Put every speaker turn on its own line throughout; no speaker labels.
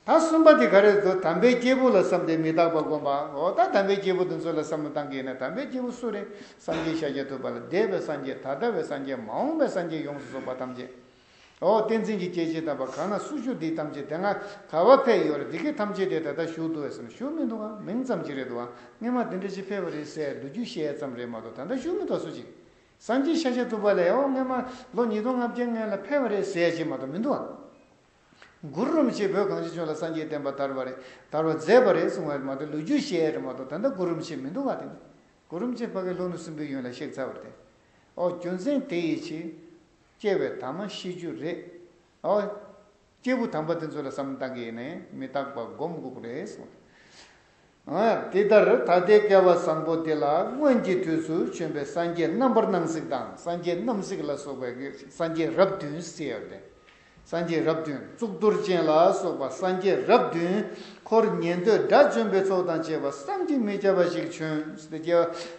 ད་གསུམ་པ་དེ་ག་རེད་དོ་དམ་པའི་སྐྱེས་བུ་ལ་བསམ་སྟེ་མི་རྟག་པ་བསྒོམ་པའོ་ད་དམ་པའི་སྐྱེས་བུ་དེ་ཚོ་ལ་བསམ་བློ་བཏང་གིས་ཡིན་ན་དམ་པའི་སྐྱེས་བུ་སུ་རེད་བསམ་གྱིས་ཤཱ་ཀྱ་ཐུབ་པ་ལ་འདས་པའི་སངས་རྒྱས་ད་ལྟ་བའི་སངས་རྒྱས་མ་འོངས་པའི་སངས་རྒྱས་ཡོངས་སུ་རྫོགས་པ་ཐམས་ཅད་འོ་བསྟན་འཛིན་གྱི་སྐྱེ་མཆེད་དམ་པ་གང་ན་སུ་བཞུགས་འདི་ཐམས་ཅད་དེ་སྔ་ག་བ་ཕས་ཡོད་རེད་འདི་སྐད་ཐམས་ཅད་དེ་ད་ལྟ་བཞུགས་འདུག་བས་སམ་བཞུགས་མི་འདུག་གམ་མིང་ཙམ་གྱིས་རེད་འདུག་གམ་སྔས་མ་དེ་འདྲ་ཅིག་ཕེབས་པ་རེད་ཟེར་འདུག་རྒྱུས་བཤད་ཙམ་རེད་མ་གཏོགས་ད་ལྟ་བཞུགས་མི་འདུག་སུ་གཅིག་བསམ་གྱིས་ཤཱ་ཀྱ་ཐུབ་པ་ལས་འོ་སྔས་མ་ལོ་ཉིས་སྟོང་ལྔ་བརྒྱད་སྔོན་ལ་ཕེབས་པ་རེད་ཟེར་གཅིག་མ་གཏོགས་མི་འདུག་གམ། མགུར་རུམ་ཞེས་བོད་གངས་ཅན་ལྗོངས་ལ་སངས་རྒྱས་བསྟན་པ་དར་བ་རེད་དར་བར་མཛད་པ་རེད་གསུང་བ་མ་གཏོགས་ལོ་རྒྱུས་བཤད་ཡ་རེད་མ་གཏོགས་ད་ལྟ་མགུར་རུམ་ཞེས་མི་འདུག་ག་དེ་ནི་མགུར་རུམ་ཅན་ཕ་གི་ལྷོ་ནུབ་སྲིན་པོའི་ཡོན་ལ་གཤེགས་ཚར་བ་རེད་ཨོ་རྒྱུ་མཚན་དེ་ཡི་ཕྱིར། སྐྱེ་བའི་དྭངས་མ་ཤེས་རྒྱུ་རེད་ཨོ། སྐྱེས་བུ་དམ་པ་དེ་ཚོ་ལ་བསམ་བཏགས་ཡེ་ནས་མི་རྟག་པ་སྒོམ་དགོས་པ་རེད་གསུང་བ་རེད། འདི་ལྟར་ད་ལྟའི་བསྐལ་བ་བཟང་པོ་འདི་ལ་སྔོན་གྱི་དུས་སུ་བྱོན་པའི་སངས་རྒྱས་རྣམ་པར་སྣང་སྲིད་དང་སངས་རྒྱས་རྣམ་གཟིགས་ལ་སོགས་པའི་སངས་རྒྱས་རབས་བདུན་གསལ་བར་ལྡན། སངས་རྒྱས་རབས་བདུན་གཙུག་ཏོར་ཅན་ལ་སོགས་པ་སངས་རྒྱས་རབས་བདུན། འཁོར་ཉན་ཐོས་དགྲ་བཅོམ་པའི་ཚོགས་དང་བཅས་པ་བསམ་གྱིས་མི་ཁྱབ་པ་ཞིག་བྱོན།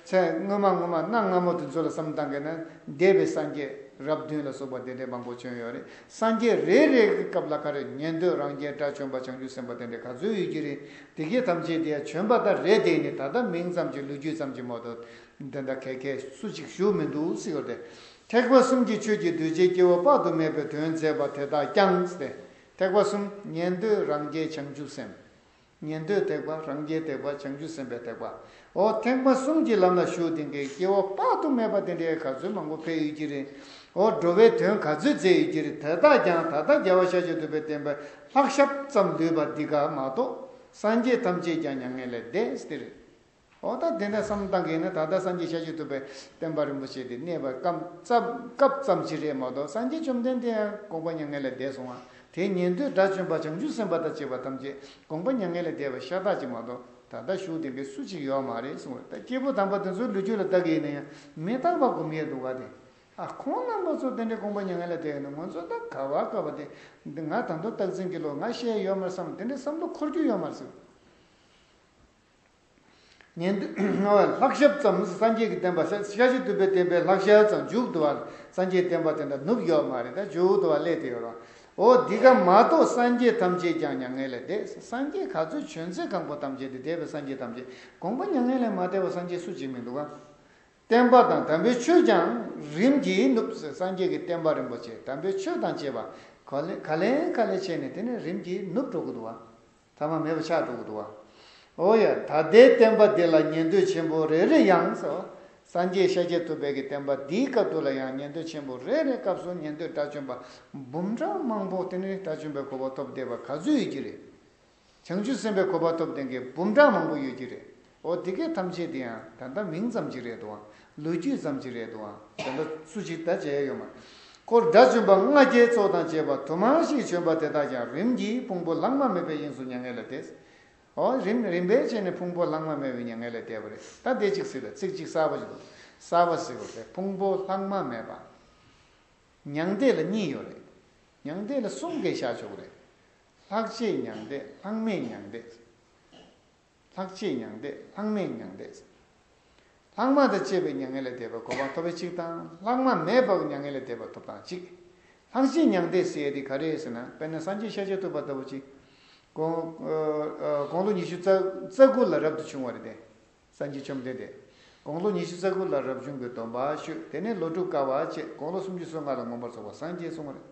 ཚེ་སྔོན་མ་སྔོན་མ་གནའ་སྔ་མོ་དུས་ཚོད་ལ་བསམ་བཏང་གིན་ན་འདས་པའི་སངས་རྒྱས་རབས་བདུན་ལ་སོགས་པ་དེ་འདྲའི་མང་པོ་བྱོན་ཡོད་རེད། སངས་རྒྱས་རེ་རེ་གི་སྐབས་ལ་ག་རེ་ཉན་འདོད་རང་རྒྱལ་སྒྲ་བྱོན་པ་བྱང་ཆུབ་སེམས་དཔའ་དེ་འདྲས་ག་ཚོད་ཡོད་ཀྱི་རེད་དེ་སྐད་ཐམས་ཅད་དེ་བྱོན་པ་དང་རེད་དེ་ནི་ད་ལྟ་མིང་ཙམ་གྱི་ལོ་རྒྱུས་ཙམ་གྱི་མོ་ཏོ་འདི་འདྲ་གས་གས་སུ་ཅིག་བཞུགས་མི་འདུག་སི་ཡོ་ཏེ་ཐེག་པ་གསུམ་གྱི་ཆོས་ཀྱི་གདུལ་བྱའི་སྐྱེ་བོ་དཔག་ཏུ་མེད་པའི་དོན་མཛད་པ་དེ་དག་ཀྱང་སྟེ་ཐེག་པ་གསུམ་ཉན་འདོད་རང་རྒྱལ་བྱང་ཆུབ་སེམས། ཉན་ཐོས་ཐེག་པ་རང་རྒྱལ་ཐེག་པ་བྱང་ཆུབ་སེམས་དཔའི་ཐེག་པ་འོ་ཐེག་པ་གསུམ་གྱི་ལམ་ལ་ཞུགས་དེང་གི་སྐྱེ་བོ་དཔག་ཏུ་མེད་པ་དེ་འདྲའི་ག་ཚོད་མང་པོ་ཕེབས་ཡོད་ཀྱི་རེད་འོ་འགྲོ་བའི་དོན་ག་ཚོད་མཛད་ཡོད་ཀྱི་རེད་དེ་དག་ཀྱང་ད་ལྟ་རྒྱལ་བ་ཤཱཀྱ་ཐུབ་པའི་བསྟན་པའི་ལྷག་ཞབས་ཙམ་ལུས་པ་འདི་ག་མ་གཏོགས་སངས་རྒྱས་ཐམས་ཅད་ཀྱང་མྱ་ངན་ལས་འདས་ཟེར། འོ་ད་དེ་འདྲ་བསམ་བཏང་གིན་ན་ད་ལྟ་སངས་རྒྱས་ཤར་ཕྱོགས་ཐུབ་པའི་དཔལ་འབར་རིན་པོ་ཆེ་དེ་གནས་པར་སྐབས་ཙམ་གྱིས་རེད་མ་གཏོགས་སངས་རྒྱས་བཅོམ་ལྡན་འདས་ཡང་དགོངས་པ་མྱ་ངན་ལས་འདས་སོང་ང་དེའི་ཉན་ཐོས་དགྲ་བཅོམ་པ་བྱང་ཆུབ་སེམས་དཔའ་དང་བཅས་པ་ཐམས་ཅད་དགོངས་པ་མྱ་ངན་ལས་འདས་པ་ཤ་སྟག་ཅིག་མ་གཏོགས་ད་ལྟ་བཞུགས་བདེན་པའི་སུ་གཅིག་ཡོད་མ་རེད་གསུངས་བ་ལྟ་སྐྱེས་བུ་དམ་པ་དེ་ཚོའི་ལུས་རྒྱུད་ལ་བདག་གིས་ཡིན་ན་ཡང་མི་རྟག་པ་སྒོམ་ཡས་འདུག་ག་དེ་ཨ་ཁོང་རྣམ་པ་ཚོ་དེ་འདྲའི་དགོངས་པ་མྱ་ངན་ལས་འདས་ཡོད་ན་ང་ཚོ་ད་ག་བར་དགའ་བ་དེ་ང་ད་མདོ་སྟག་འཛིན་གྱི་ལོ་ང་ཤས་ཡོད་མར་བསམ་དེ་འདྲའི་བསམ་བློ་འཁོར་རྒྱུ་ཡོད་མ་རེད། ཉན་ཐོས་ལྔ་བའི་ལྷག་ཞབས་ཙམ་ནི་སངས་རྒྱས་ཀྱི་བསྟན་པ་ཤྲཱི་ཤྲཱི་བདུན་པའི་བསྟན་པའི་ལྷག་ཞལ་ཙམ་འཇུག་བསྡུ་བ་སངས་རྒྱས་བསྟན་པ་དེ་འདྲ་ནུབ་ཡོད་མ་རེད་ད་འཇུག་བསྡུ་བ་ཀླད་དེ་ཡོད་རོགས་ཨོ་འདི་ཀ་མ་གཏོགས་སངས་རྒྱས་ཐམས་ཅད་ཀྱང་མྱ་ངན་ལས་འདས་སངས་རྒྱས་ག་ཚོད་བྱོན་ཚེ་གང་པོ་ཐམས་ཅད་དེ་འདས་པའི་སངས་རྒྱས་ཐམས་ཅད་དགོངས་པ་མྱ་ངན་ལས་མ་འདས་པ་སངས་རྒྱས་སུ་གཅིག་མི་འདུག་གམ། བསྟན་པ་དང་དམ་པའི་ཆོས་ཀྱང་རིམ་གྱིས་ནུབ་སངས་རྒྱས་ཀྱི་བསྟན་པ་རིན་པོ་ཆེ་དམ་པའི་ཆོས་དང་བཅས་པ་ག་ལེ་ག་ལེ་བྱས་ནས་དེ་ནས་རིམ་གྱིས་ནུབ་འགྲོ་གི་འདུག་བ། ཐ་མ་མེད་པ་ཕྱག་དྲུག་བསྡུ་བ། ཨོ་ཡ། ད་ལྟའི་བསྟན་པ་འདི་ལ་ཉན་ཐོས་ཆེན་པོ་རེ་རེ་ཡང། སངས་རྒྱས་ཤཱཀྱ་ཐུབ་དཔལ་གྱི་བསྟན་པ་འདིའི་སྐབས་དུ་ལ་ཡང་ཉན་ཐོས་ཆེན་པོ་རེ་རེའི་སྐབས་སུ་ཉན་ཐོས་དགྲ་བཅོམ་པ་འབུམ་ཕྲག་མང་པོ་དེ་ནི་དགྲ་བཅོམ་པའི་གོ་བ་ཐོབ་བསྡད་པ་ག་ཚོད་ཡོད་ཀྱི་རེད། བྱང་ཆུབ་སེམས་དཔའི་གོ་བ་ཐོབ་ལྡན་གྱི་འབུམ་ཕྲག་མང་པོ་ཡོད་ཀྱི་རེད། འོ་དེ་སྐད་ཐམས་ཅད་འདི་འང་ད་ལྟ་མིང་ཙམ་གྱི་རེད་དོ་འང་ལོ་རྒྱུས་ཙམ་གྱི་རེད་དོ་འང་ད་ལྟ་སུ་ཅིག་དགྲ་བཅས་ཡོད་མ་ཀོར་དགྲ་བཅོམ་པ་ལྔ་བརྒྱའི་ཚོགས་དང་བཅས་པ་དུ་མ་ཞིག་བྱོན་པ་དེ་དག་ཀྱང་རིམ་གྱིས་ཕུང་པོ་ལྷག་མ་མེད་པའི་དབྱིངས་སུ་མྱ་ངན་ལས་འདས། འོ་རིམ་རིམ་པས་ཕྱེ་ནས་ཕུང་པོ་ལྷག་མ་མེད་པའི་མྱ་ངན་ལས་འདས་པ་རེད་ད་བདེ་གཅིག་སྲིད་པའི་ཚིག་གཅིག་གསར་པ་ཅིག་འདུག་གསར་པ་ཟེར་བ་དེ་ཕུང་པོ་ལྷག་མ་མེད་པ་མྱང་འདས་ལ་གཉིས་ཡོད་རེད་མྱང་འདས་ལ་གསུམ་གས་བཞག་ཆོག་གི་རེད། ལྷག་བཅས་མྱང་འདས་ལྷག་མེད་མྱང་འདས། ལྷག་བཅས་མྱང་འདས་ལྷག་མེད་མྱང་འདས། ལྷག་མ་དང་བཅས་པའི་མྱ་ངན་ལས་འདས་པའི་གོ་འཕང་ཐོབ་པའི་ཆིག་དང་ལྷག་མ་མེད་པའི་མྱ་ངན་ལས་འདས་པ་ཐོབ་དང་གཅིག། ལྷག་བཅས་མྱང་འདས་ཟེར་དེ་ག་རེད་ཟེར་ན་དཔེར་ན་སངས་རྒྱས་ཤར་ཕྱོགས་ཐུབ་པ་ལྟ་བུ་ཅིག། དགོང་ལོ་ཉི་ཤུ་རྩ་དགུ་ལ་རབ་ཏུ་བྱུང་བ་རེད་དེ། སངས་རྒྱས་བཅོམ་ལྡན་འདས་དགོང་ལོ་ཉི་ཤུ་རྩ་དགུ་ལ་རབ་བྱུང་གི་སྡོམ་པ་ཞུས་དེ་ནས་ལོ་དྲུག་བསྐལ་བ་བཅས་དགོང་ལོ་སུམ་ཅུ་སོ་ལྔ་ལ་ངོམས་པར་རྫོགས་པ་སངས་རྒྱས་གསུངས་པ་རེད།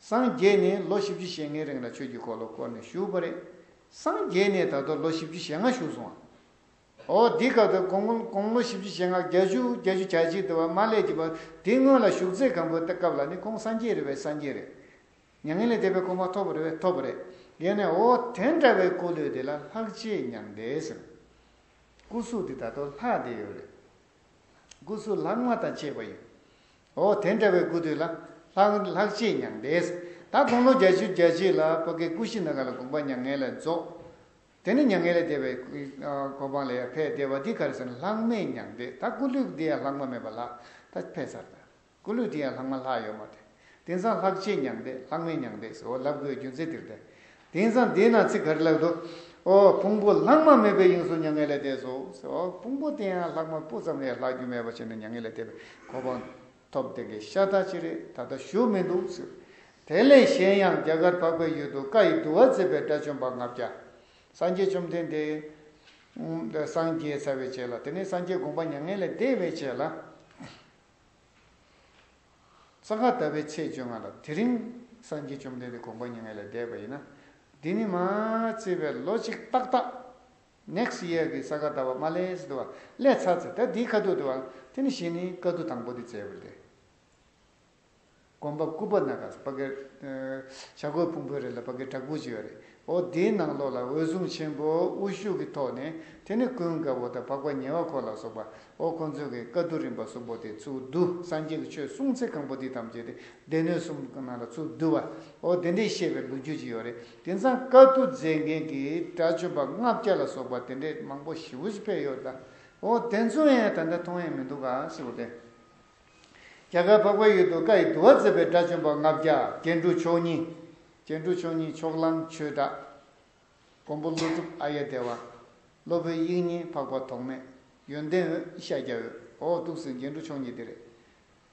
སངས་རྒྱས་ནས་ལོ་བཞི་བཅུ་ཞེ་ལྔའི་རིང་ལ་ཆོས་ཀྱི་འཁོར་ལོ་བསྐོར་ནས་བཞུགས་པ་རེད། སངས་རྒྱས་ནས་ད་དུང་ལོ་བཞི་བཅུ་ཞེ་ལྔ་བཞུགས་སོང་ཨ། འོ་འདི་སྐབས་དང་གོང་གོང་ལོ་བཞི་བཅུ་ཞེ་ལྔ་བརྒྱ་བཅུ་བརྒྱ་བཅུ་གྱ་གཅིག་དུ་བ་མ་ལས་ཀྱི་བ་དེ་སྔོན་ལ་བཞུགས་ཚེ་གང་པོའི་སྐབས་ལ་ནི་ཁོང་སངས་རྒྱས་རེད་བས་སངས་རྒྱས་རེད། མྱ་ངན་ལས་འདས་པའི་གོ་འཕང་ཐོབ་པ་རེད་བས་ཐོབ་པ་རེད། ཡེ་ནས་འོ་དེ་འདྲ་བའི་སྐུ་ལུས་དེ་ལ་ལྷག་བཅས་མྱང་འདས་ཟེར། སྐུ་གཟུགས་དེ་ད་དུང་ལྷག་བསྡད་ཡོད་རེད། སྐུ་གཟུགས་ལྷག་མ་དང་བཅས་པ་ཡིན། འོ་དེ་འདྲ་བའི་སྐུ་དུས་ལ། ལྷག་ལྷག་ཅེས་མྱང་འདས། ད་དགུང་ལོ་བརྒྱ་བཅུ་གྱ་གཅིག་ལ་བོད་སྐད་སྐུ་བཞི་ན་ག་ལ་དགོངས་པ་མྱ་ངན་ལས་རྫོགས། དེ་ནི་མྱ་ངན་ལས་འདས་པའི་གོ་འཕང་ལ་ཡང་ཕེབས་བདེ་བ་འདི་ག་རེ་ཟེར་ན་ལྷག་མེད་མྱང་འདས་ད་སྐུ་ལུས་འདི་ཡང་ལྷག་མ་མེད་པ་ལགས་ད་ཕེབས་ཚར་ད་སྐུ་ལུས་འདི་ཡང་ལྷག་མ་ལྷག་ཡོད་མ་དེ་དེང་སང་ལྷག་ཅེས་མྱང་འདས་ལྷག་མེད་མྱང་འདས་སུ་འོ་ལབ་དགོས་རྒྱུ་མཚན་དེར་ཐལ། དེང་སང་བསྡད་ན་ཚིག་ག་རེ་ལབ་འདུག། ཨོ། ཕུང་པོ་ལྷག་མ་མེད་པའི་དབྱིངས་སུ་མྱ་ངན་ལས་འདས་སོ། ཨོ། ཕུང་པོ་དེ་ཡང་ལྷག་མ་སྤུ་ཙམ་ལས་ལྷག་རྒྱུ་མེད་པ་བྱས་ནས་མྱ་ངན་ལས་འདས་པའི་གོ་འཕང་ཐོབ། དེ་གའི་ཤ་སྟག་ཅི་རེད་ད་ལྟ་བཞུགས་མི་འདུག། དེ་ལས་གཞན་ཡང་རྒྱ་གར་འཕགས་པའི་ཡུལ་དུ་བཀའ་ཡི་བསྡུ་བ་མཛད་པའི་དགྲ་བཅོམ་པ་ལྔ་བརྒྱ། སངས་རྒྱས་བཅོམ་ལྡན་འདས། སངས་རྒྱས་ཚ་བའི་ཆེད་ལ་དེ་ནས་སངས་རྒྱས་དགོངས་པ་མྱ་ངན་ལས་འདས་པའི་ཆེད་ལ། ས་ག་ཟླ་བའི་ཚེས་བཅོ་ལྔ་ལ་དེ་རིང་སངས་རྒྱས་བཅོམ་ལྡན་འདས་དགོངས་པ་ཉེ་ངལ་ལས་འདས་པ་ཡིན་ན། འདི་ནི་མ་བརྩིས་པའི་ལོ་གཅིག་ཏག་ཏག next year གི་ས་ག་ཟླ་བ་དམའ་ལས་དུ་བ་ལས་ཚར་ཚེ་ད་དེའི་ཁ་ཐུག་དུ་བ་དེ་ནི་བཞི་ནི་དཀའ་ཐུག་དང་པོ་དེ་བཙལ་བུ་ལས། དགོན་པ་སྐུ་པ་ན་ག་ས་པ་ཀའི་བྱ་རྒོད་ཕུང་པོའི་རི་ལ་པ་ཀའི་བྲག་ཕུག་ཅིག་ཡོད་རེད་འོ་དེའི་ནང་ལོགས་ལ་འོད་སྲུང་ཆེན་པོ་དབུ་བཞུགས་ཀྱི་ཐོག་ནས་དེ་ནི་ཀུན་དགའ་བོ་དང་འཕགས་པ་ཉེ་བ་འཁོར་ལ་སོགས་པ་འོ་ཁོ་ཚོས་ཀྱི་བཀའ་བསྡུ་རིམ་པ་གསུམ་པོ་དེ་ཚུར་བསྡུ་སངས་རྒྱས་ཀྱི་ཆོས་གསུངས་ཚེ་གང་པོ་འདི་ཐམས་ཅད་དེ་སྡེ་སྣོད་གསུམ་གྱི་ནང་ལ་ཚུར་བསྡུ་བ་འོ་དེ་འདྲའི་ཤེས་པའི་ལོ་རྒྱུས་ཅིག་ཡོད་རེད་དེ་མཚམས་བཀའ་བསྡུ་མཛད་མཁན་གྱི་གྲྭ་བཅོམ་པ་ལྔ་བརྒྱ་ལ་སོགས་པ་དེ་འདྲས་མང་པོ་ཞི་བོ་ཞིག་ཕེབས་ཡོད་ད་འོ་དེ་ཚོ་ཡང་ད་ལྟ་མཐོང་ཡས་མི་འདུག་ག་ཞེས་པ་དེ། རྒྱ་གར་འཕགས་པའི་ཡུལ་དུ་བཀའ་ཡི་བསྡུ་བ་མཛད་པའི་གྲྭ་བཅོམ་པ་ལྔ་བརྒྱ་རྒྱན་དྲུག་མཆོག་གཉིས། སྐྱེ་འགྲོ་ཆོས་ཉིད་ཕྱོགས་གླང་ཆོས་བསྒྲགས། མགོན་པོ་ཀླུ་སྒྲུབ་ཨ་ཡེ་བདེ་བ། སློབ་དཔོན་དབྱིག་གཉེན་འཕགས་པ་ཐོགས་མེད་ཡོན་ཏན་འོད་ཤཱཀྱ་འོད། ཨོ་ཏུག་སེང་སྐྱེ་འགྲོ་ཆོས་ཉིད་བདེ་རེད།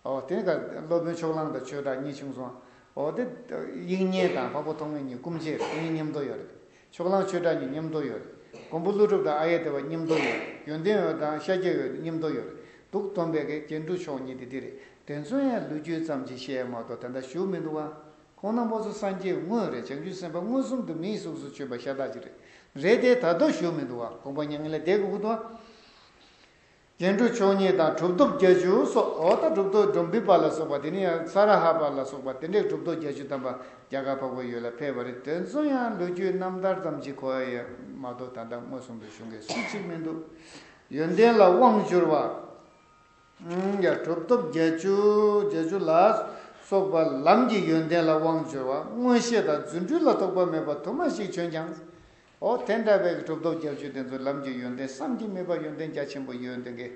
ཨོ། དེ་ནི་ཁར། སློབ་དཔོན་ཕྱོགས་གླང་དང་ཆོས་བསྒྲགས་གཉིས་བྱུང་སོང། ཨོ། དེ། དབྱིག་གཉེན་དང་འཕགས་པ་ཐོགས་མེད་གཉིས་སྐུ་མཆེད་རེད། དེ་གཉིས་མཉམ་འདོགས་ཡོད་རེད། ཕྱོགས་གླང་ཆོས་བསྒྲགས་གཉིས་མཉམ་འདོགས་ཡོད་རེད། མགོན་པོ་ཀླུ་སྒྲུབ་དང་ཨ་ཡེ་བདེ་བ་མཉམ་འདོགས་ཡོད་རེད། ཡོན་ཏན་འོད་དང་ཤཱཀྱ་འོད་མཉམ་འདོགས་ཡོད་རེད་འདུག། སྟོན་པས་ཀྱེ་སྐྱེ་འགྲོ་ཆོས་ཉིད་དེ་འདི་རེད། དེ་ཚོ་ཡང་ལུས་རྒྱུད་ཙམ་གྱིས་བཤད་མ་གཏོགས་དེ་འདྲ་ཞུ་མི་འདུག་ཨ། ཁོང་ན་མོ་སོ་སངས་རྒྱས་དངོས་རེད་བྱང་ཆུབ་སེམས་དཔའ་མངོན་སུམ་དུ་མིའི་གཟུགས་སུ་བྱོན་པ་ཤ་སྟག་ཅིག་རེད། རེད་དེ་ད་དོ་ཞུ་མི་འདུག་ཨ་དགོངས་པ་མྱ་ངན་ལས་འདས་ཀུ་ཀུ་དོ། རྒྱན་དྲུག་མཆོག་གཉིས་དང་གྲུབ་ཐོབ་བརྒྱ་བཅུ་སོགས་འོ་ད་གྲུབ་ཐོབ་འབྲོམ་བི་པ་ལ་སོགས་པ་དེ་ནི་ཡང་ས་ར་ཧ་པ་ལ་སོགས་པ་དེ་འདྲས་གྲུབ་ཐོབ་བརྒྱ་བཅུ་དམ་པ་རྒྱ་གར་འཕགས་པ་ཡོད་ལ་ཕེབས་པ་རེད་དོན་གཙོ་ཡང་ལོ་རྒྱུས་རྣམ་ཐར་ཙམ་གྱི་གོ་ཡ་མ་གཏོགས་ད་ལྟ་མངོན་སུམ་དུ་བྱུང་མཁན་སུ་གཅིག་མི་འདུག་ཡོན་ཏན་ལ་དབང་བསྒྱུར་བ། གྲུབ་ཐོབ་བརྒྱད་ཅུ་ལ་སོགས་པ་ལམ་གྱི་ཡོན་ཏན་ལ་དབང་འབྱོར་བ་མངོན་ཤེས་དང་རྫུ་འཕྲུལ་ལ་རྟོག་པ་མེད་པ་དུ་མ་ཞིག་བྱོན་ཀྱང། འོ་དེ་འདྲ་བའི་གྲུབ་ཐོབ་བརྒྱད་ཅུ་དེ་ཚོ་ལམ་གྱི་ཡོན་ཏན་བསམ་གྱིས་མི་དཔའ་ཡོན་ཏན་རྒྱ་ཆེན་པོ་ཡོད་དེ་གའི་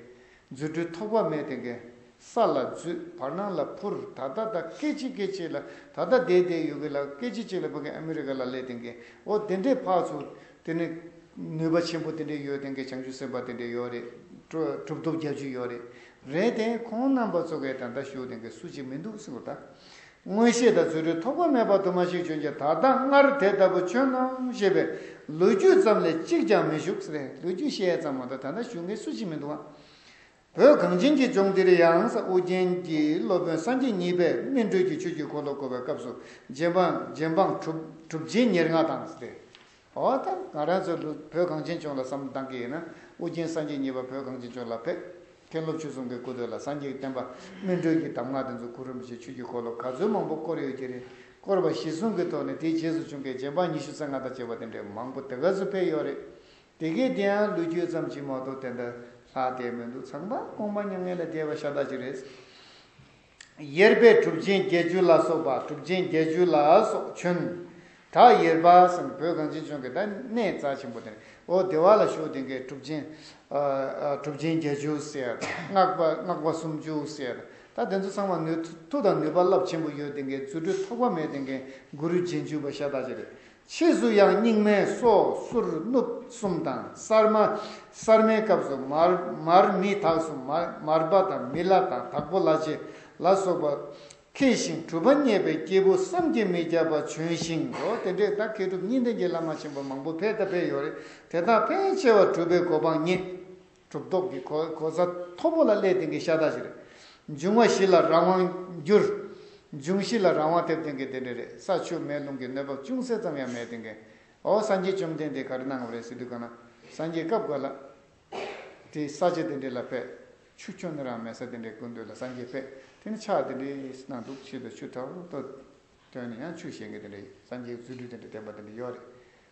རྫུ་འཕྲུལ་ཐོགས་པ་མེད་དེ་གའི་ས་ལ་རྫུས་བར་སྣང་ལ་འཕུར་ད་ལྟ་ད་སྐད་ཅིག་སྐད་ཅིག་ལ་ད་ལྟ་དེའི་དེའི་ཡུལ་གྱི་ལ་སྐད་ཅིག་གཅིག་ལ་བུ་གའི་ཨ་མི་རི་ཀ་ལ་སླེབས་དེ་གའི་འོ་དེ་འདྲའི་འཕགས་ཚུལ་དེ་ནི། ནུས་པ་ཆེན་པོ་དེ་འདྲའི་ཡོད་དེ་འགས་བྱང་ཆུབ་སེམས་དཔའ་དེ་འདྲའི་ཡོད་རེད། གྲུབ་ཐོབ་བརྒྱ་བཅུ་ཡོད་རེད། རེད་དེ། ཁོང་རྣམ་པ་ཚོ་གས་ད་ལྟ་བཞུགས་དེ་འགས་སུ་གཅིག་མི་འདུག་སེམས་གོ་ད། མངོན་ཤེས་དང་རྫུ་འཕྲུལ་ཐོགས་པ་མེད་པ་དུ་མ་ཞིག་བྱོན་ཀྱང་ད་ལྟ་སྔར་དེ་ལྟ་བུ་བྱོན་ནམ་ཞེས་པའི་ལོ་རྒྱུས་ཙམ་ལས་གཅིག་ཀྱང་མི་བཞུགས། རེད་ལོ་རྒྱུས་བཤད་ཙམ་མ་གཏོགས་ད་ལྟ་བཞུགས་འགས་སུ་གཅིག་མི་འདུག་ཨ། བོད་གངས་ཅན་གྱི་ལྗོངས་འདིར་ཡང་ས་ཨུ་རྒྱན་གྱི་སློབ་དཔོན་སངས་རྒྱས་གཉིས་པས་སྨིན་གྲོལ་གྱི་ཆོས་ཀྱི་འཁོར་ལོ་བསྐོར་བའི་སྐབས་སུ་རྗེ་འབངས་གྲུབ་རྗེས་ཉེར་ལྔ་དང། འོ་ད་ང་རང་ཚོ་བོད་གངས་ཅན་ལྗོངས་ལ་བསམ་བློ་བཏང་གི་ཡིན་ན་ཨུ་རྒྱན་སངས་རྒྱས་གཉིས་པ་བོད་གངས་ཅན་ལྗོངས་ལ་ཕེབས་མཁན་སློབ་ཆོས་གསུམ་གྱི་སྐུ་དོད་ལ་སངས་རྒྱས་བསྟན་པ་སྨིན་གྲོལ་གྱི་གདམས་ངག་དེ་ཚོ་གུ་རུ་རིན་པོ་ཆེ་ཆོས་ཀྱི་འཁོར་ལོ་ག་ཚོད་མང་པོ་བསྐོར་ཡོད་ཀྱི་རེད་བསྐོར་བ་གཞི་བཟུང་གི་ཐོག་ནས་དེའི་རྗེས་སུ་བྱུང་མཁན་རྗེ་འབངས་ཉི་ཤུ་རྩ་ལྔ་དང་བཅས་པ་དེ་འདྲའི་མང་པོ་དེ་ག་ཚོད་ཕེབས་ཡོད་རེད་དེ་གའི་དེའང་ལུས་རྒྱུད་ཙམ་གྱིས་མ་གཏོགས་དེ་འདྲ་ལྷག་བསྡད་མི་འདུག་ཚངས་པ་གོང་མ་མྱ་ངན་ལས་འདས་པ་ཤ་སྟག་ཅིག་རེད། གཡེར་པས་གྲུབ་ཆེན་བརྒྱད་ཅུ་ལ་སོགས་པ་གྲུབ་ཆེན་བརྒྱད་ཅུ་ལ་སོགས་བྱོན། དག་གཡེར་པ་སམ་བོད་གངས་ཅན་ལྗོངས་ཀྱི་ད་གནས་རྩ་ཆེན་པོ་དེར་ཨོ་བདེ་བ་ལ་ཞུགས་དེ་གའི་གྲུབ་ཆེན། གྲུབ་ཆེན་བརྒྱད་ཅུ་ཟེར། སྔགས་པ་སུམ་ཅུ་ཟེར། ད་དེ་ཚོ་ཚང་མ་ནུས་མཐུ་དང་ནུས་པ་རླབས་ཆེན་པོ་ཡོད་དེ་གའི་རྫུ་འཕྲུལ་ཐོགས་པ་མེད་དེ་གའི་གུ་རུ་རྗེས་འཇུག་པ་ཤ་སྟག་ཅིག་རེད། ཕྱིས་སུ་ཡང་རྙིང་མའི་སོ་སོར་སྣུབས་གསུམ་དང་གསར་མ། གསར་མའི་སྐབས་སུ་མར་མི་དྭགས་སུ་མར་པ་དང་མི་བླ་དང་དྭགས་པོ་བླ་ཆེན་ལ་སོགས་པ། མཁས་ཤིང་གྲུབ་པ་བརྙེས་པའི་སྐྱེས་བུ་བསམ་གྱིས་མི་ཁྱབ་པ་བྱོན་ཞིང། འོ་དེ་འདྲའི་ད་མཁས་གྲུབ་གཉིས་ལྡན་གྱི་བླ་མ་ཆེན་པོ་མང་པོ་ཕལ་དང་ཕལ་ཡོད་རེད་དེ་དག་ཕལ་ཆེ་བ་གྲུབ་པའི་གོ་འཕང་བརྙེས། གྲུབ་ཐོབ་ཀྱི་གོ་གོ་ས་མཐོ་པོ་ལ་སླད་དེང་གི་ཤ་སྟག་བཞི་རེད། འབྱུང་བ་བཞི་ལ་རང་དབང་བསྒྱུར། འབྱུང་བཞི་ལ་རང་དབང་ཐེབས་དེང་གི་དེ་འདྲ་རེད་ས་ཆུ་མེ་རླུང་གི་གནོད་བབ་ཅུང་ཟད་ཙམ་ཡང་མེད་དེང་གི། ཨོ་སངས་རྒྱས་བཅོམ་ལྡན་འདས་ག་རེ་གནང་བ་རེད་ཟེར་དུས་གང་ན་སངས་རྒྱས་སྐབས་འགའ་ལ། དེ་ས་ཆ་དེ་འདྲ་ལ་ཕེབས། ཆུ་ཁྱོ་ནི་རང་མེད་ས་དེ་འདྲའི་དགུན་དུས་ལ་སངས་རྒྱས་ཕེབས་དེ་ནི་ཆགས་དེ་འདྲའི་གནང་འདུག་ཕྱིས་དུ་ཆུ་ཐོག་ཏུ། དོན་ཡང་ཆུ་བཞེངས་གི་དེ་འདྲ་ཡོད་སངས་རྒྱས་རྫུ་འཕྲུལ་དེ་འདྲ་བསྟན་པ་དེ་འདྲ་ཡོད་རེད།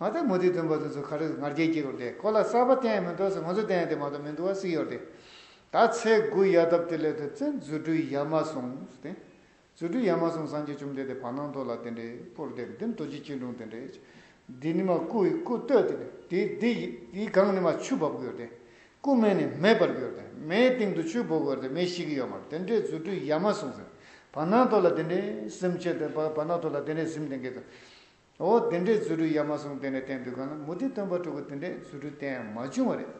ང་ཚོའི་མུ་ཏིག་སྟོན་པ་དེ་ཚོ་ག་རེ་ང་རྒྱལ་སྐྱེ་དགོས་རེད་ཁོ་ལ་གསར་པ་བསྟན་ཡ་མི་འདུག་ཟེར་ང་ཚོ་བསྟན་ཡ་དེ་མ་གཏོགས་མི་འདུག་བ་སྲིད་ཡོད་རེད། ད་ཚེས་དགུ་ཡལ་སྟབས་དེ་སླད་དུ་བཙན་རྫུ་འཕྲུལ་ཡལ་མ་སོང་ཟེར། རྫུ་འཕྲུལ་ཡལ་མ་སོང་སངས་རྒྱས་བཅོམ་ལྡན་འདས་བར་སྣང་མདོ་ལ་དེ་འདྲའི་པོར་བསྡད་འདི་མདོ་སྤྱི་སྤྱི་འབྲུང་དེ་འདྲའི་འདི་ནི་མ་སྐུ་ཡི་སྐུ་བསྟོད་དེ་འདྲའི་འདི་འདི་ཡི་སྒང་ནི་མ་ཆུ་འབབ་གི་ཡོད་རེད་སྐུ་སྨད་ནས་མེ་འབར་གི་ཡོད་རེད་མེའི་སྟེང་དུ་ཆུ་འབོ་གི་ཡོད་རེད་མེ་ཤི་གི་ཡོད་མ་རེད་དེ་འདྲའི་རྫུ་འཕྲུལ་ཡལ་མ་སོང་ཟེར། བར་སྣང་མདོ་ལ་དེ་འདྲའི་སེམས་བྱེད་བར་སྣང་མདོ་ལ་དེ་འདྲའི་སེམས་དེ་འགས་དེ། འོ་དེ་འདྲས་རྫུ་འཕྲུལ་ཡ་མ་གསུང་དེ་འདྲས་བསྟན་འདུག་གང་ལ་མུ་ཏིག་སྟོན་པ་ཕྲུ་གུ་དེ་འདྲས་རྫུ་འཕྲུལ་བསྟན་མ་བྱུང་བ་རེད།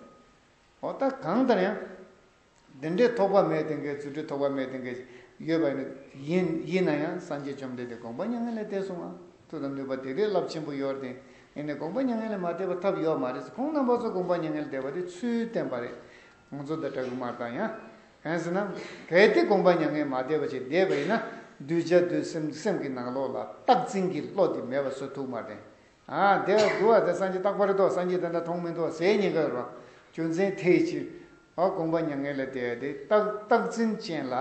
འོ་ད་གང་ལྟར་ཡང། དེ་འདྲས་ཐོགས་པ་མེད་དེ་འགའི་རྫུ་འཕྲུལ་ཐོགས་པ་མེད་དེ་འགའ་ཞིག་ཡོད་པ་ཡིན། ཡིན་ན་ཡང་སངས་རྒྱས་བཅོམ་ལྡན་འདས་དགོངས་པ་མྱ་ངན་ལས་འདས་སོང་ང་ཐུགས་དང་ནུས་པ་དེ་འདྲའི་རླབས་ཆེན་པོ་ཡོད་དེ་ཨེ་ནས་དགོངས་པ་མྱ་ངན་ལས་མ་འདས་པ་ཐབས་ཡོད་མ་རེད་ཁོང་རྣམ་པ་ཚོ་དགོངས་པ་མྱ་ངན་ལས་འདས་པ་དེ་ཚུལ་བསྟན་པ་རེད། ཁོང་ཚོ་དང་དྲ་གུ་མར་དང་ཡང། གན་ཟེར་ན། གལ་ཏེ་དགོངས་པ་མྱ་ངན་མ་དད་པ་ཅིག་བདེ་བ་ཡིན་ན། གདུལ་བྱ་དུས་སེམས་སེམས་ཀྱི་ནང་ལོགས་ལ་རྟག་འཛིན་གྱི་བློ་དེ་མེད་པ་སོ་ཐུག་མ་དྲན། བདེ་བ་གདུལ་བ་དེ་སངས་རྒྱས་རྟག་པར་རྟོགས་སངས་རྒྱས་དེ་འདྲ་མཐོང་མི་མཐོང་ཟེར་ཉེན་ཁ་རུ། རྒྱུ་མཚན་དེའི་ཕྱིར། དགོངས་པ་མྱ་ངན་ལས་འདས་ཏེ་རྟག་འཛིན་ཅན་ལ།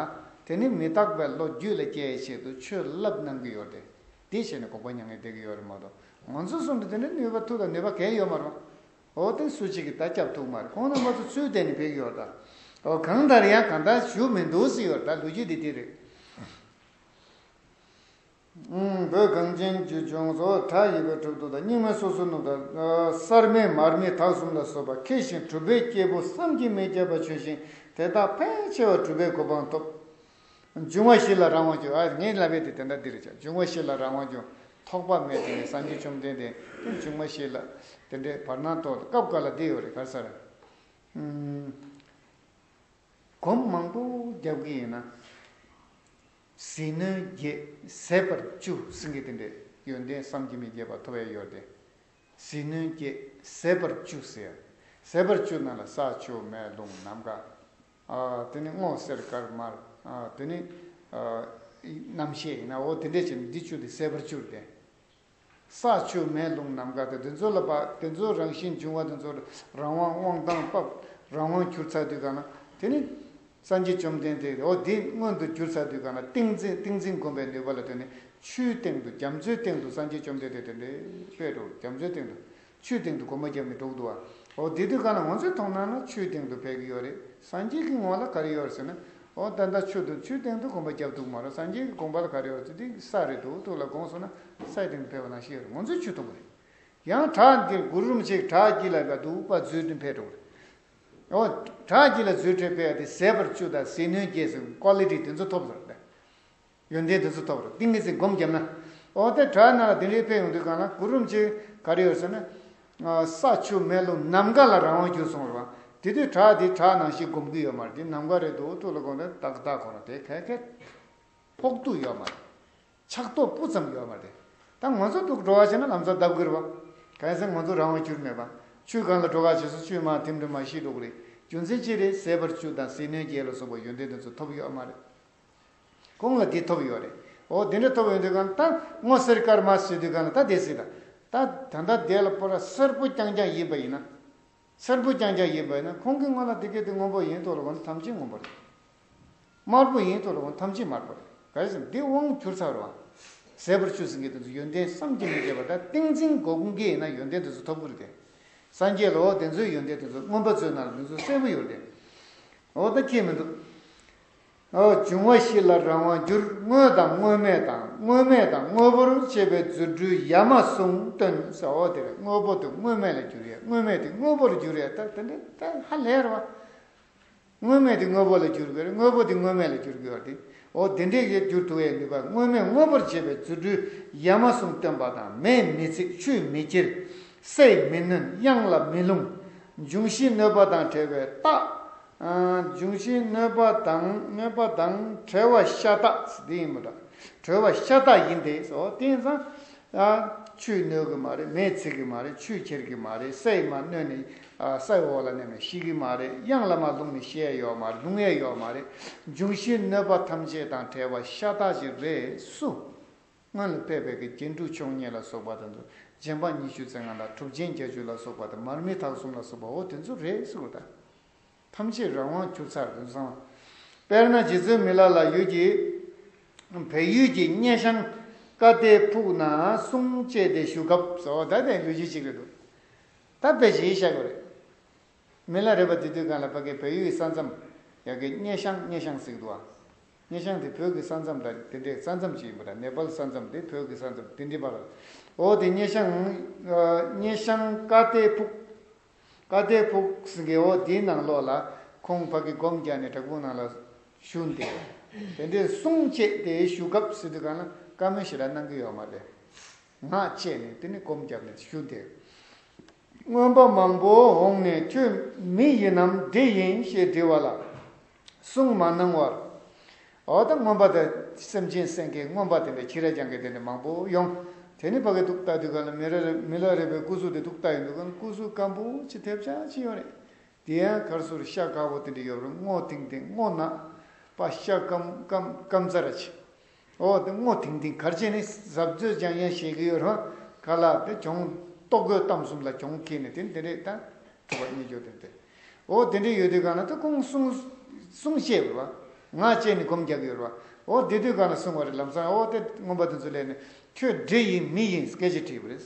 དེ་ནི་མི་རྟག་པའི་བློ་རྒྱུད་ལ་སྐྱེ་བའི་ཆེད་དུ་ཆོས་བསླབ་གནང་གི་ཡོད་དེ། དེའི་ཕྱིར་ན་དགོངས་པ་མྱ་ངན་འདས་ཀྱི་ཡོད་རེད་མ་གཏོགས། ང་ཚོ་གསུམ་དུ་དེ་འདྲའི་ནུས་པ་ཐུག་དང་ནུས་པ་གན་ཡོད་མ་རུང། འོ་དེ་སུ་གཅིག་གིས་ད་སྐྱབས་ཐུག་མ་རེད་ཁོང་རྣམ་པ་ཚོ་ཚུལ་བསྟན་ནས་བོད་ཀྱི་ཡོར་ད། འོ་གང་ལྟར་ཡང་གང་ལྟར་ཞུ་མི་འདུག་སྲིད་ཡོར་ད་ལོ་རྒྱུས་འདི་དེ་རེད། བོད་གངས་ཅན་རྒྱུད་ལྗོངས་སོ་དྲག་ཡིག་པའི་གྲུབ་ཐོབ་དང་རྙིང་མའི་སོ་སོའི་ནུབ་དང། གསར་མའི་མར་མེ་དག་གསུམ་ལ་སོགས་པ་མཁས་ཤིང་གྲུབ་པའི་སྐྱེས་བུ་བསམ་གྱིས་མི་ཁྱབ་པ་བྱོན་ཞིང་དེ་དག་ཕལ་ཆེ་བ་གྲུབ་པའི་གོ་འཕང་ཐོབ། འབྱུང་བ་བཞི་ལ་རང་དབང་འགྱུར། ངས་བསླབ་པའི་དེ་དེ་འདྲ་འདིར་བྱ། འབྱུང་བ་བཞི་ལ་རང་དབང་འགྱུར། ཐོགས་པ་མེད་དེ་ནི་སངས་རྒྱས་བཅོམ་ལྡན་འདས། ཀུན་འབྱུང་བ་བཞི་ལ་དེ་འདྲའི་བར་སྣང་སྟོང། སྐབས་འགའ་ལ་འདི་ཡོད་རེ་གར་ས་རེ། གོམ་མང་པོ་རྒྱབ་ཀྱི་ཡིན་ན། ཟིལ་གནོན་རྒྱས་ཟད་པར་བཅུ། སེང་གེ་དེ་འདྲའི་ཡོན་ཏན་བསམ་གྱིས་མི་ཁྱབ་པ་ཐོ་བས་གཡོགས་ཏེ། ཟིལ་གནོན་རྒྱས་ཟད་པར་བཅུ་ཟེར། ཟད་པར་བཅུ་རྣམས་ལ་ས་ཆུ་མེ་རླུང་ནམ་མཁའ། དེ་ནི་སྔོ་སེར་དཀར་དམར། དེ་ནི། རྣམ་ཤེས་ཡིན་ན་འོ་དེ་འདྲས་བྱས་ནས་འདི་བཅུ་དེ་གསལ་བར་བཅུར་ལྡན། ས་ཆུ་མེ་རླུང་ནམ་མཁའ་དང་དེ་ཚོ་ལ་དཔག་དེ་ཚོའི་རང་བཞིན་འབྱུང་བ་དེ་ཚོར་རང་དབང་དབང་ཐང་དཔག་རང་དབང་གྱུར་ཚར་དུས་གང་ན་དེ་ནི། སངས་རྒྱས་བཅོམ་ལྡན་འདས་འོ་འདི་མངོན་དུ་གྱུར་ཚར་དུས་གང་ན་ཏིང་འཛིན་ཏིང་འཛིན་བསྒོམ་པའི་ནུས་པ་ལ་ལྟོས་ནས་ཆུའི་སྟེང་དུ་རྒྱ་མཚོའི་སྟེང་དུ་སངས་རྒྱས་བཅོམ་ལྡན་འདས་དེ་འདྲའི་དཔེ་རུ་རྒྱ་མཚོའི་སྟེང་དུ་ཆུའི་སྟེང་དུ་སྒོ་མོ་བརྒྱབ་ནས་འགྲོ་གི་འདུག་བ། འོ་དེ་དུས་ཀ་ལ་ངོ་ཚོས་མཐོང་ན་ནི་ཆུའི་སྟེང་དུ་བས་ཀྱི་ཡོད་རེད་སངས་རྒྱས་ཀྱི་ངོ་ལ་ག་རེ་ཡོད་རེད་ཟེར་ན། འོ་ད་ལྟ་ཆུ་དང་ཆུའི་སྟེང་དུ་སྒོ་མོ་བརྒྱབ་འདུག་མ་རོ་སངས་རྒྱས་ཀྱི་དགོངས་པ་ལ་ག་རེ་ཡོད་རེད་འདི་ས་རེད་འདུག་ཐུགས་ལ་དགོངས་སོང་ན་སའི་སྟེང་དུ་བས་པ་ན་ཤི་ཡོད་རེད་ངོ་ཚོས་ཆུ་མཐོང་གི་རེད། ཡང་བྲག་འདིར་གུར་རུམ་ཞིག་བྲག་དཀྱིལ་ལ་བས་འདུག་པ་རྫུས་ཏེ་འཕེལ་འགྲོ་གི་རེད། འོ་བྲག་དཀྱིལ་ལ་རྫུས་ཁྲོད་བས་ཏེ་ཟད་པར་ཆུ་དང་ཟིལ་གནོན་རྒྱས་སོ་ཀོ་ལི་ཏི་དེ་ཚོ་ཐོབ་ཟེར་རོ། ཡོན་ཏན་དེ་ཚོ་ཐོབ་རོགས་ཏིང་ངེ་འཛིན་སྒོམ་བརྒྱབ་ན། འོ་དེ་དྲག་ན་ལ་དེ་འདྲའི་ཕན་ཡོང་དུས་གང་ལ་གུ་རུམ་ཅིག་ག་རེ་ཡོད་ཟེར་ན། ས་ཆུ་མེ་རླུང་ནམ་མཁའ་ལ་རང་དབང་གྱུར་སོང་རོགས་དེ་དུས་དྲག་དེ་དྲག་ནང་བཞིན་སྒོམ་གི་ཡོད་མ་རེད་དེ་ནམ་མཁའ་རེད་འདུག་ཐུགས་ལ་གོ་ན་ཏག་ཏག་གོ་རོགས་དེ་གས་གས། ཕོག་ཐུག་ཡོད་མ་རེད། ཆགས་ཐོགས་སྤུ་ཙམ་ཡོད་མ་རེད། ད་ང་ཚོ་ཐུགས་འགྲོ་བ་བྱས་ན་ལམ་ཚ་འདབ་གུར་བ། གས་ཟེར་ང་ཚོ་རང་དབང་གྱུར་མེད་པ། ཆུ་གང་ལ་འགྲོ་ག་བྱས་སོ་ཆུའི་མར་ཐིམ་དུ་མ་ཤི་འགྲོ་གི་རེད་རྒྱུ་མཚན་ཅི་རེད་ཟས་པར་ཆུ་དང་ཟས་སྣོད་རྒྱས་ལ་སོགས་པ་ཡོན་ཏན་དེ་ཚོ་ཐོབ་ཡོད་མ་རེད། གོང་ལ་དེ་ཐོབ་ཡོད་རེད། འོ་དེ་འདྲ་ཐོབ་ཡོད་འདོད་ག་ན་ད་སྔོ་སེར་དཀར་དམར་བཟོས་དུས་ག་ན་ད་བསྡད་སྲིད་ད། ད་ད་ལྟ་བསྡད་ལ་པོ་ར་སེར་པོ་རྐྱང་རྐྱང་ཡིན་པ་ཡིན་ན། སེར་པོ་རྐྱང་རྐྱང་ཡིན་པ་ཡིན་ན་ཁོང་གིས་སྔོན་ལ་དེ་སྐད་དེ་སྔོན་པོ་ཡིན་ཐོག་ལ་གོ་ན་ཐམས་ཅད་སྔོན་པོ་རེད། དམར་པོ་ཡིན་ཐོག་ལ་གོ་ན་ཐམས་ཅད་དམར་པོ་རེད་ག་རེ་ཟེར་འདི་དབང་བསྒྱུར་ཚར་བ། ཟད་པར་ཆུད་ཟིན་གྱི་དོན་དུ་ཡོན་ཏན་བསམ་གྱིས་མི་ཁྱབ་པ་ད་ཏིང་འཛིན་སྒོ་ཀུན་དགའི་ཡིན་ན་ཡོན་ཏན་དེ་ཚོ་ཐོབ་ཀི་རེད་དེ། སངས་རྒྱས་ལ་འོ་དེ་ཚོའི་ཡོན་ཏན་དེ་ཚོ་མངོན་པ་བརྩོན་ན་ལ་དེ་ཚོ་གསལ་པོ་ཡོད་རེད་དེ། འོ་ད་ཁྱེད་མི་འདུག། འབྱུང་བ་བཞི་ལ་རང་དབང་བསྒྱུར་དངོས་དང་དངོས་མེད་དང་དངོས་མེད་དང་དངོས་པོར་བཅས་པའི་རྫུ་འཕྲུལ་ཡ་མ་གསུམ་སྟོན། ཟོ་དེར་དངོས་པོ་དེ་དངོས་མེད་ལ་བསྒྱུར་ཡས་དངོས་མེད་དེ་དངོས་པོར་བསྒྱུར་ཡས་ད་དེ་འདྲ་ད་ཧ་ལས་ར་བ། དངོས་མེད་དེ་དངོས་པོ་ལ་བསྒྱུར་དགོས་རེད་དངོས་པོ་དེ་དངོས་མེད་ལ་བསྒྱུར་དགོས་བ་དེ་འོ་དེ་འདྲས་ཀྱི་བསྒྱུར་ཐུ་ཡས་ནུས་པ་དངོས་མེད་དངོས་པོར་བྱེད་པའི་རྫུ་འཕྲུལ་ཡ་མ་གསུམ་སྟོན་པ་དང་མེས་མི་འཚིག་ཆུས་མི་སྐྱིར། སས་མི་ནོན་དབྱངས་ལ་མི་ལྷུང། འབྱུང་བཞི་གནོད་པ་དང་བྲལ་བའི་རྟགས། འབྱུང་བཞི་གནོད་པ་དང་གནོད་པ་དང་གྲོལ་བ་ཤ་སྟག་འདི་ཡིན་མོད། གྲོལ་བ་ཤ་སྟག་ཡིན་ཏེ་སོ་བསྟན་བཟང། ཆུས་གནོད་གི་མ་རེད་མེས་འཚིག་གི་མ་རེད་ཆུས་ཁྱེར་གི་མ་རེད་སའི་མ་གནོད་ནས་སའི་འོག་ལ་གནས་ནས་ཤི་གི་མ་རེད་གཡང་ལ་མ་ལྷུང་ནས་ཤི་ཨེ་ཡོད་མ་རེད་ལྷུང་ཨེ་ཡོད་མ་རེད་འབྱུང་བཞི་གནོད་པ་ཐམས་ཅད་དང་བྲལ་བ་ཤ་སྟག་ཅིག་རེད་སུ། སྔོན་ལ་དཔལ་བེ་གེ་རྒྱན་དྲུག་མཆོག་བརྙེས་ལ་སོགས་པ་དང་དུ་རྗེ་འབངས་ཉི་ཤུ་རྩེ་ལྔ་ལ་གྲུབ་རྗེན་བརྒྱ་བཅུ་ལ་སོགས་པ་དང་མར་མེ་དག་གསུམ་ལ་སོགས་པ་འོ་དེ་ཚོ་རེད་ཟེར་དགོས་དང། ཐམས་ཅད་རང་དབང་བསྐྱུར་ཚར་དགོས་བསམ། དཔེར་ན་རྗེ་བཙུན་མི་ལ་ལ་ཡུལ་གྱི། བལ་ཡུལ་གྱི་སྙེ་ཤང་བཀའ་གཏེར་ཕུག་ན་གསུང་བཅས་ཏེ་བཞུགས་སྐབས། ཟོ་ད་དེ་ལུས་རྗེས་གཅིག་རེད་འདུག་ད་དཔེ་གཞི་ཤ་གོ་རེད། མི་ལ་རས་པ་དེ་དུས་གང་ལ་བབ་ཀའི་བལ་ཡུལ་གྱི་ས་མཚམས། ཡ་གི་སྙེ་ཤང་སྙེ་ཤང་ཟིག་འདུག་ཨ། སྙེ་ཤང་དེ་བོད་ཀྱི་ས་མཚམས་དང་དེ་འདྲའི་ས་མཚམས་ཅིག་ཡིན་པ་དང་ནེ་པལ་ས་མཚམས་དེ་བོད་ཀྱི་ས་མཚམས་དེ་འདྲི་པ་ལ། འོ་དེ་སྙེ་ཤང། སྙེ་ཤང་ཀ་ཏའི་ཕུག། ཀ་ཏའི་ཕུག་ཟིག་གི་འོ་དེའི་ནང་ལོགས་ལ། ཁོང་བག་གི་སྒོམ་རྒྱག་ནས་བྲག་ཕུག་ནང་ལ། བཞུགས་འདུག་དེ་འདྲའི་གསུང་བཅད་དེ་བཞུགས་སྐབས་ཟིག་དུས་གང་ལ་བཀའ་མོལ་ཞིག་ལ་གནང་གི་ཡོག་མ་རེད། ངག་བཅད་ནས་དེ་ནས་སྒོམ་རྒྱབ་ནས་བཞུགས་འདུག། རྔོན་པ་མང་པོ་འོངས་ནས་ཁྱོད་མི་ཡིན་ནམ་འདྲེ་ཡིན་ཞེས་འདྲི་བ་ལ། གསུང་མ་གནང་བར། འོ་ད་རྔོན་པ་ད་སེམས་ཅན་སེང་གེའི་རྔོན་པ་དེ་འདྲ་ཁྱི་ར་རྐྱང་གི་དེ་འདྲ་མང་པོ་ཡོང། དེ་ནི་ཕ་གི་ཐུགས་རྟགས་དུས་ག་ལ་མི་ལ་རས་པའི་སྐུ་གཟུགས་དེ་ཐུགས་རྟགས་ཡིན་འདུག་གམ་སྐུ་གཟུགས་སྐམ་པོ་ཅི་ཐེབས་ཆག་ཅི་ཡོང་རེད། དེ་ཡང་གར་སོར་ཤ་དཀར་པོ་དེ་འདྲ་ཡོད་རུང་སྔོ་ཐིང་ཐིང་སྔོ་ནག་པ་ཤ་སྐམ་སྐམ་སྐམ་རྩ་ར་ཆེ། འོ་དེ་སྔོ་ཐིང་ཐིང་གར་བྱེད་ནི་ཟབ་རྫོད་ཅང་ཡང་བཤད་ཀྱི་ཡོད་རུང་ག་ལ་དེ་གྱོང་རྟོག་རྒོད་གཏམ་གསུམ་ལ་གྱོང་ཁེལ་ནས་དེ་འདི་རེད་ད་ཐུབ་པ་གཉིས་ཀྱོ་དེ་འདི་འོ་དེ་འདྲས་ཡོད་དུས་གང་ལ་དེ་ཁོང་གསུང་གསུང་བཤད་པ་ང་བཅས་ནི་སྒོམ་རྒྱག་གི་ཡོད་རུང་འོ་དེ་དུས་གང་ལ་གསུང་བ་རེད་ལམ་སང་འོ་དེ་སྔོན་པ་དེ་ཚོ་ལས་ནི་ཁྱོད་འདྲེ་ཡིན་མི་ཡིན་སྐད་ཆ་དྲིས་པ་རེད།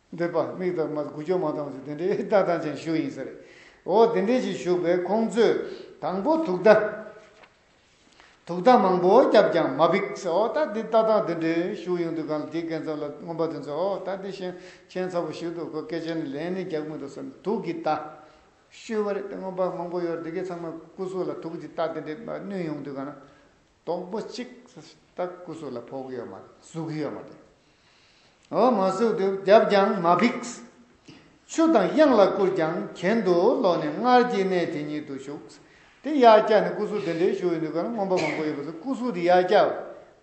འདོད་པ་མིག་དར་མ་དགུ་ཅོ་མ་དང་བཅུ་དེ་འདྲའི་ལྟ་སྟངས་ཅན་བཞུགས་ཡིན་ས་རེད། འོ་དེ་འདྲས་ཞིག་བཞུགས་པས་ཁོང་ཚོས་དང་པོ་དུག་བརྡ། དུག་བརྡ་མང་པོ་བརྒྱབ་ཀྱང་མ་འབིགས་ཟེར་འོ་ད་དེ་ལྟ་སྟངས་དེ་འདྲས་བཞུགས་ཡོང་དུས་གང་ལ་དེའི་སྐལ་ཚབ་ལ་མངོན་པ་དེ་ཚོས་འོ་ད་དེ་ཤན་ཆེན་ཚ་བོ་ཞིག་འདུག་གོ་སྐད་ཆ་ནི་ལན་ནི་རྒྱག་མི་འདུག་ཟེར་ནས་དུག་གི་བརྡ་ཤོད་པ་རེད་དེ་མངོན་པ་མང་པོ་ཡོད་རེད་དེ་གའི་ཚང་མས་སྐུ་སྲོག་ལ་དུག་གི་བརྡ་དེ་འདྲས་བསྣུན་ཡོང་དུས་གང་ལ། སྟོང་པོ་གཅིག། ལྟ་སྐུ་གཟུགས་ལ་ཕོག་གི་ཡོད་མ་རེད། གཟུགས་ཀྱི་ཡོད་མ་རེད། འོ་མ་གཟུགས་དེ་བརྒྱབ་ཀྱང་མ་ཕིགས། ཆུ་དང་དབྱངས་ལ་བསྐུར་ཀྱང་གྱེན་དུ་ལོག་ནས་སྔར་གྱི་གནས་དེ་ཉིད་དུ་ཞུགས། དེ་ཡར་བཀྱགས་ནས་སྐུ་གཟུགས་དེ་འདྲའི་ཞུ་ཡི་འདུག་ག་ན་རྔོན་པ་མང་པོ་ཡོད་པ་ཚོས་སྐུ་གཟུགས་དེ་ཡར་བཀྱགས།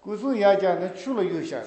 སྐུ་གཟུགས་ཡར་བཀྱགས་ནས་ཆུ་ལ་གཡུགས་ཤག།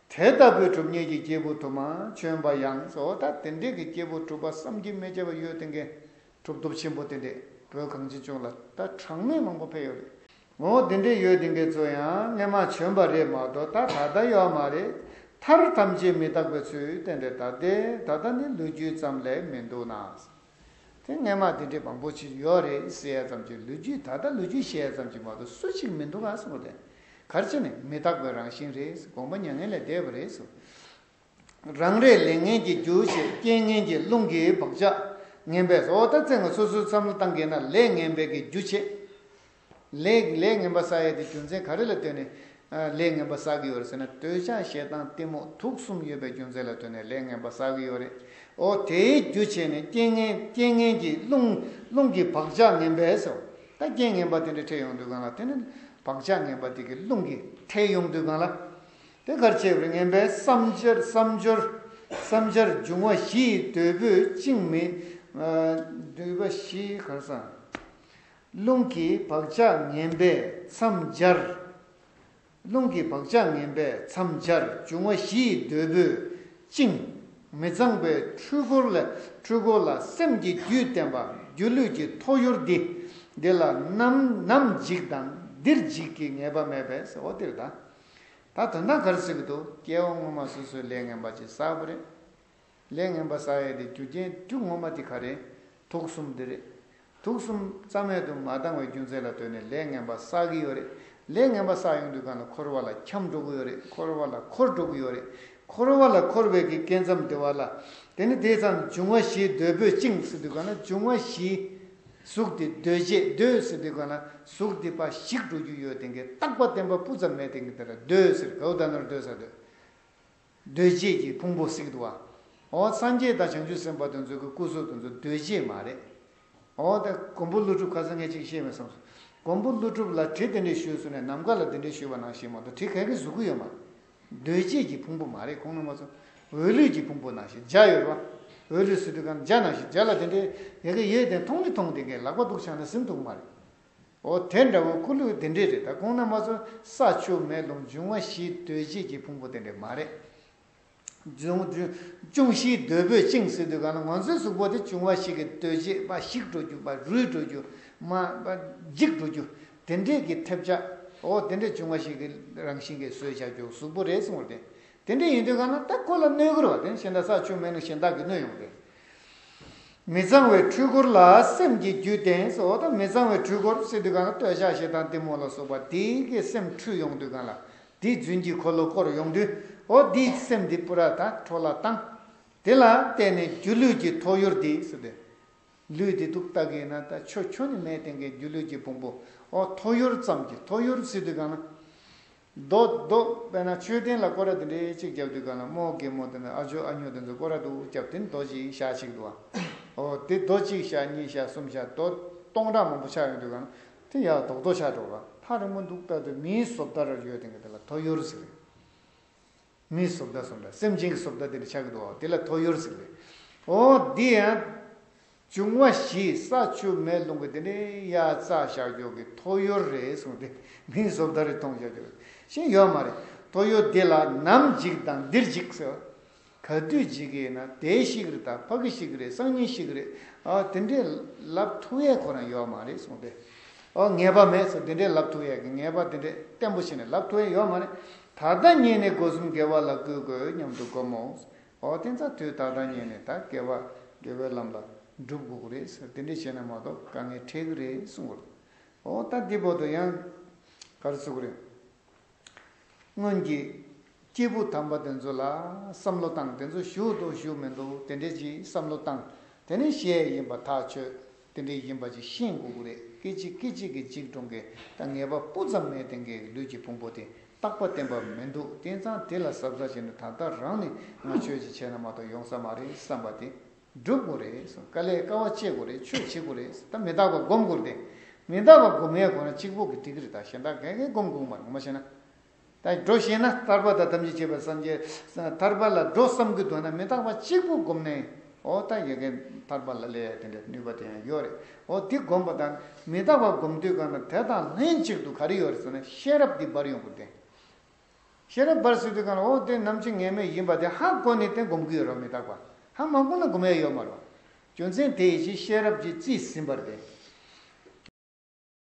དེ་ལྟ་བུའི་གྲུབ་བརྙེས་ཀྱི་སྐྱེས་བུ་དུ་མ་བྱོན་པ་ཡང་བཟོ་ལྟ་དེ་འདྲས་ཀྱི་སྐྱེས་བུ་གྲུབ་པ་བསམ་གྱིས་མི་ཁྱབ་པ་ཡོད་དེ་མཁན་གྲུབ་སྟོབས་ཆེན་པོ་དེ་འདྲས་བོད་གངས་ཅན་ལྗོངས་ལ་ད་གྲངས་མེད་མང་པོ་ཕེབས་ཡོད་རེད། ངོ་བོ་དེ་འདྲས་ཡོད་དེ་འགའི་ཚོ་ཡང་སྔན་མ་བྱོན་པ་རེད་མ་གཏོགས་ད་ད་ལྟ་ཡོད་མ་རེད། མཐར་ཐམས་ཅད་མི་རྟག་པའི་ཚུལ་དེ་འདྲས་ད་ལྟའི་ད་ལྟ་ནི་ལོ་རྒྱུས་ཙམ་ལས་མི་འདུག་ན། དེ་སྔས་མ་དེ་འདྲས་པ་འགོ་ཕྱིར་ཡོག་རེད་ཟེར་ཡ་ཙམ་གྱི་ལུས་རྒྱུས་ད་ལྟ་ལུས་རྒྱུས་བཤད་ཡ་ཙམ་གྱི་མ་གཏོགས་སུ་ཞིག་མི་འདུག་ག་སོང་རེད། གར་བྱེད་ནི་མི་རྟག་པའི་རང་བཞིན་རེད་དགོངས་པ་མྱ་ངན་ལས་འདས་པ་རེད། རང་རེས་ལས་ངན་གྱི་རྒྱུ་ཞེས་རྐྱེན་ངན་གྱི་རླུང་གིས་བག་ཆགས་ངན་པས་ཟོག་ད་ཚེ་ང་སོ་སོའི་བསམ་བློ་བཏང་གིན་ན་ལས་ངན་བད་ཀྱི་རྒྱུ་བྱེད། ལས་ངན་པ་བསགས་ཡས་དེ་རྒྱུ་མཚན་ག་རེ་ལ་ལྟོས་ནས་ལས་ངན་པ་བསགས་ཀྱི་ཡོད་རེད་ཟེར་ན་འདོད་ཆགས་ཞེ་སྡང་གཏི་མུག་དུག་གསུམ་ཡོད་པའི་རྒྱུ་མཚན་ལ་ལྟོས་ནས་ལས་ངན་པ་བསགས་ཀྱི་ཡོད་རེད་འོ་དེའི་རྒྱུ་བྱས་ནས་རྐྱེན་ངན་གྱིས་རླུང་གི་བག་ཆགས་ངན་པས་སོ། ད་རྐྱེན་ངན་པ་དེ་འདྲ་འཕྲད་ཡོང་དུས་གང་ལ་ལྟོས་ནས་བག་ཆགས་ངན་པ་དེ་གིས་རླུང་གིས་འཕྲད་ཡོང་དུས་གང་ལ་ལྟོས་གར་བྱས་པར་ངན་པའི་བསམ་སྦྱོར་འབྱུང་བ་བཞི་ཡི་འདོད་པོས་བཅིངས་མི་འདོད་པ་བཞི་གར་བསམ། རླུང་གི་བག་ཆགས་ངན་པས་མཚམས་སྦྱར། རླུང་གི་བག་ཆགས་ངན་པས་མཚམས་སྦྱར་འབྱུང་བ་བཞི་ཡི་འདོད་པོས་བཅིངས། མི་གཙང་པའི་འཁྲུལ་འཁོར་ལས་འཁྲུལ་འཁོར་ལ་སེམས་ཀྱི་རྒྱུད་བསྟན་པ་སྒྱུ་ལུས་ཀྱི་ཐོ་ཡུར་འདི། འདི་ལ་ནམ་ནམ་འཇིག་དང་འདིར་འཇིག་གི་ངེས་པ་མེད་པས་ཟེར་བ་འདིར་ད་ད་དོན་དག་གར་ཟེར་གི་འདུག་སྐྱེ་བོ་ངོ་མ་སོ་སོའི་ལས་ངན་པ་ཅི་བསགས་པ་རེད། ལས་ངན་པ་ཟ་ཡས་དེ་རྒྱུ་རྐྱེན་དཀྲུག་ངོ་མ་དེ་ག་རེད་དུག་གསུམ་དེ་རེད་དུག་གསུམ་རྩ་མེད་དུ་མ་བཏང་བའི་རྒྱུ་མཚན་ལ་ལྟོས་ནས་ལས་ངན་པ་ཟ་གི་ཡོད་རེད་ལས་ངན་པ་ཟ་ཡོང་དུས་གང་ལ་འཁོར་བ་ལ་འཁྱམ་འགྲོ་གི་ཡོད་རེད་འཁོར་བ་ལ་འཁོར་འགྲོ་གི་ཡོད་རེད་འཁོར་བ་ལ་འཁོར་བའི་གི་སྐད་མཚམས་དེ་བ་ལ་དེ་ནི་དེ་ཙམ་འབྱུང་བ་བཞིའི་གདོས་པོས་བཅིངས་ཟེར་དུས་གང་ལ་འབྱུང་བ་བཞིའི་གཟུགས་དེ་གདོས་བཅས་གདོས་ཟེར་དུས་གང་ལ་གཟུགས་དེ་འབའ་ཞིག་འགྲོ་རྒྱུ་ཡོད་དེ་གའི་རྟག་པ་བསྟན་པ་སྤུ་ཙམ་མེད་དེ་ག་རེད་གདོས་ཟེར་གའུ་ད་ནོར་གདོས་ཟ་གདོས། རྡོས་བཅས་ཀྱི་ཕུང་པོ་གཟིགས་འདུག་ཨོ། སངས་རྒྱས་དང་བྱང་ཆུབ་སེམས་དཔའ་དུ་མཛོད་ཀྱི་སྐུ་གཟུགས་དུ་མཛོད་རྡོས་བཅས་མ་རེད། ཨོ། མགོན་པོ་ཀླུ་སྒྲུབ་ཁ་ཟས་ངས་ཅིག་བཤད་མི་བསམ་སོང། མགོན་པོ་ཀླུ་སྒྲུབ་ལ་གྲི་དེ་འདྲས་ཞུས་སོང་ནས་ནམ་མཁའ་ལ་དེ་འདྲས་ཞུས་པ་ནང་བཞིན་མ་གཏོགས་གྲི་ག་གི་གཟུགས་སྐུ་ཡོད་མ་རེད། རྡོས་བཅས་ཀྱི་ཕུང་པོ་མ་རེད་ཁོང་ནང་མ་ཚུགས། འོད་ལུས་ཀྱི་ཕུང་པོ་ནང་བཞིན་འཇའ་ཡོད་རེད། འོད་ལུས་སུ་དུས་གང་འཇའ་ནང་བཞིན་འཇའ་ལ་དེ་འདྲས་ཡོད་གི་ཡོད་དེ་མཐོང་མི་མཐོང་དེ་གའི་ལག་པ་སྡུག་ཆགས་ན་སེམས་སྡུག་མ་རེད། འོ་དེ་འདྲ་བོ་ཁུ་ལུ་དེ་འདྲས་རེད་ད་ཁོང་ན་མ་ཚོ་ས་ཆུ་མེ་རླུང་འབྱུང་བ་བཞིས་སྡོད་བྱེད་ཀྱི་ཕུང་པོ་དེ་འདྲས་མ་རེད། ཅུང་བཞིའི་སྡོད་པོས་བཅིངས་སྲིད་དུས་གང་ལ་ང་ཚོའི་གཟུགས་པོ་དེ་བྱུང་བ་ཞིག་གིས་སྡོད་བྱེད་པ་བཤིག་འགྲོ་རྒྱུ་པ་རུལ་འགྲོ་རྒྱུ། མ། འཇིག་འགྲོ་རྒྱུ། དེ་འདྲས་ཀྱི་ཐེབས་ཆ། འོ་དེ་འདྲས་བྱུང་བ་ཞིག་གིས་རང་བཞིན་གྱིས་གསོས་བྱ་རྒྱུ་གཟུགས་པོ་རེད་སོང་བ་དེ་དེ་འདྲ་ཡིན་དུས་ཁ་ན་སྟབས་ཁོ་ལ་སྣོད་བསྐུར་བ་དེ་ཤིང་རྟ་ས་ཆུ་མེ་ནུ་གཞན་དག་གིས་བསྣུན་ཡོང་སྟེ། མི་གཙང་བའི་འཕྲུལ་འཁོར་ལ་སེམས་ཀྱི་རྒྱུད་བསྟེན་སོ་དང་མི་གཙང་བའི་འཕྲུལ་འཁོར་བསྲེ་དུས་ཁ་ན་སྟོད་ཞགས་ཤེལ་དང་གཏི་མུག་ལ་སོགས་པ་དེ་གི་སེམས་འཁྲུལ་ཡོང་དུས་ཁ་ལ་དེའི་རྫུན་གྱི་འཁོར་ལོ་བསྐོར་ཡོང་དུས་འོ་དེའི་སེམས་དེ་པུ་ར་ད་ཁྲོ་ལ་བཏང། དེ་ལ་བརྟེན་ནས་སྒྱུ་ལུས་ཀྱི་ཐོ་ཡུར་དེ་སུ་དེ། ལུས་དེ་དུག་ལྟ་གི་ཡིན་ན་ད་ཆོ་ཁྱོད་ནི་མའི་སྟེང་གི་སྒྱུ་ལུས་ཀྱི་བུང་བུ་འོ་ཐོ་ཡུར་ཙམ་གྱི་ཐོ་ཡུར་བསྲེ་དུས་ཁ་ན། རྡོག་རྡོག་པས་ན་མཆོད་རྟེན་ལ་སྐོར་ར་དེ་འདྲའི་གཅིག་བརྒྱབ་དུས་ག་ལ་རྨོ་གེ་མོ་དེ་འདྲ་ཨ་ཇོ་ཨ་ཉོ་དེ་ཚོ་སྐོར་ར་དུ་བརྒྱབ་དེ་རྡོ་གཅིག་ཞག་གཅིག་འདུག་ཨོ་དེ་རྡོ་གཅིག་ཞག་གཉིས་ཞག་གསུམ་ཞག་རྡོ་སྟོང་ཕྲག་མང་པོ་ཆགས་ཡོང་དུས་ག་ལ་དེ་ཡག་རྡོག་རྡོག་ཆགས་འགྲོ་ག་ལ་རིང་པོ་འདུག་ལྟ་དུས་མིའི་བཟོ་ལྟར་ཡོད་དེ་ག་དེ་ལ་ཐོ་ཡོར་ཟེར། མིའི་གཟུགས་བརྡ་སོགས་འདྲ་སེམས་ཅན་གྱི་གཟུགས་བརྡ་དེ་ལ་ཆགས་ཀྱི་འདུག་དེ་ལ་ཐོ་ཡོར་ཟིག་ལེ། ཨོ། འདི་ཡང། འབྱུང་བ་བཞི་ས་ཆུ་མེ་རླུང་གི་དེ་ནི་དབྱར་རྩྭ་ཞག་སྦྱོར་གྱི་ཐོ་ཡོར་རེད་གསུངས་ཏེ་མིའི་གཟུགས་བརྡ་རེ་མཐོང་བྱ་རྒྱུ་ཞིག་ཡོད་མ་རེད། ཐོ་ཡོར་འདི་ལ་ནམ་འཇིགས་དང་འདིར་འཇིགས་ཟེར། ག་དུས་འཇིགས་ཀྱི་ཡིན་ན་དེའི་གཤིས་ཀྱི་རིགས་དང་ཕ་གི་གཤིས་ཀྱི་རིགས་སང་ཉིན་གཤིས་ཀྱི་རིགས་ཨོ་དེ་འདྲའི་ལབ་ཐུག་ཡས་ཁོ་རང་ཡོད་མ་རེད་གསུངས་ཏེ། ཨོ་ངེས་པ་མེད་ཟེར་དེ་འདྲའི་ལབ་ཐུག་ཡས་ཀྱི་ངེས་པ་དེ་འདྲའི་བརྟན་པོ་ཞིག་ནི་ལབ་ཐུག་ཡས་ཡོད་མ་རེད། ད་ལྟ་ཉིད་ནི་སྒོ་གསུམ་དགེ་བ་ལ་བསྐུལ་དགོས་སྙམ་དུ་བསྒོམ་མོ། འོ་དེ་ཚ་དུས་ད་ལྟ་ཉིད་ནི་ད་དགེ་བ་དགེ་བའི་ལམ་ལ་འགྲུབ་དགོས་ཀྱི་རེད་ཟེར་དེ་འདྲས་བྱས་ན་མ་གཏོགས་དཀའ་ངལ་འཕྲད་ཀྱི་རེད་གསུངས་པར། འོ་ད་འདི་བོ་དོ་ཡང་གར་བརྩི་གི་རེད། སྔོན་གྱི་སྐྱེས་བུ་དམ་པ་དེ་ཚོ་ལ་བསམ་བློ་བཏང་དེ་ཚོ་ཞུགས་འདུག་ཞུགས་མི་འདུག་དེ་འདྲས་ཀྱི་བསམ་བློ་བཏང་དེ་ནི་ཤེས་ཡིན་པ་ཐག་ཆོད། དེ་འདྲའི་ཡིན་པ་ཅིག་ཤེས་མགོ་དགུ་རེད་སྐད་ཅིག་སྐད་ཅིག་གིས་གཅིག་གྲོང་གི་ད་ངེས་པ་སྤུ་ཙམ་མའི་སྟེང་གི་ལུས་ཀྱི་ཕུང་པོ་དེ་རྟག་པ་བསྟན་པ་མི་འདུག་བསྟན་ཙང་དེ་ལ་གཟབ་གཟབ་བྱས་ནས་ད་ལྟ་རང་ནི་ང་ཆོས་ཅིག་བྱས་ན་མ་གཏོགས་ཡོང་ས་མ་རེད་བསམ་པ་དེ་འགྲུབ་དགོས་རེད་བསམ་དཀའ་ལས་དཀའ་བ་སྤྱད་དགོས་རེད་ཆོས་བྱེད་དགོས་རེད་ད་མི་རྟག་པ་སྒོམ་དགོས་རེད་དེ་མི་རྟག་པ་སྒོམ་ཡས་གོ་ན་གཅིག་པོ་གི་ཏིག་རེད་ད་གཞན་དག་འགའ་འགའི་སྒོམ་དགོངས་པ་ངོ་མ་བྱས་ན་དང་འགྲོ་ཤེས་ན་ཐར་པ་དང་ཐམས་ཅད་བྱེད་པར་བསམ་གྱི། ཐར་པ་ལ་འགྲོ་བསམ་གྱི་འདུག་ན་མི་རྟག་པ་གཅིག་པུ་བསྒོམས་ནས་འོ་ད་ཡོད་མཁན་ཐར་པ་ལ་ལས་དེ་འདྲའི་ནུས་པ་དེ་ཡང་ཡོད་རེད་འོ་དེ་བསྒོམས་པ་དང་མི་རྟག་པ་བསྒོམས་དུས་གང་ན་དེ་དང་ལྷན་ཅིག་ཏུ་ག་རེ་ཡོད་རེད་ཟེར་ན་ཤེས་རབ་འདི་འབར་ཡོང་དགོས་ཏེ། ཤེས་རབ་འབར་སྲིད་དུས་གང་ལ་འོ་དེ་ནམ་ཕྱི་ངེས་མེད་ཡིན་པ་དེ་ཧ་གོ་ནས་དེ་བསྒོམ་གི་ཡོད་རོགས་མི་རྟག་པ་ཧ་མ་གོ་ན་བསྒོམ་ཡ་ཡོད་མ་རོགས། རྒྱུ་མཚན་དེ་ཡིན་ཕྱིན་ཤེས་རབ་ཀྱིས་རྩིས་ཟིན་པར་དེ།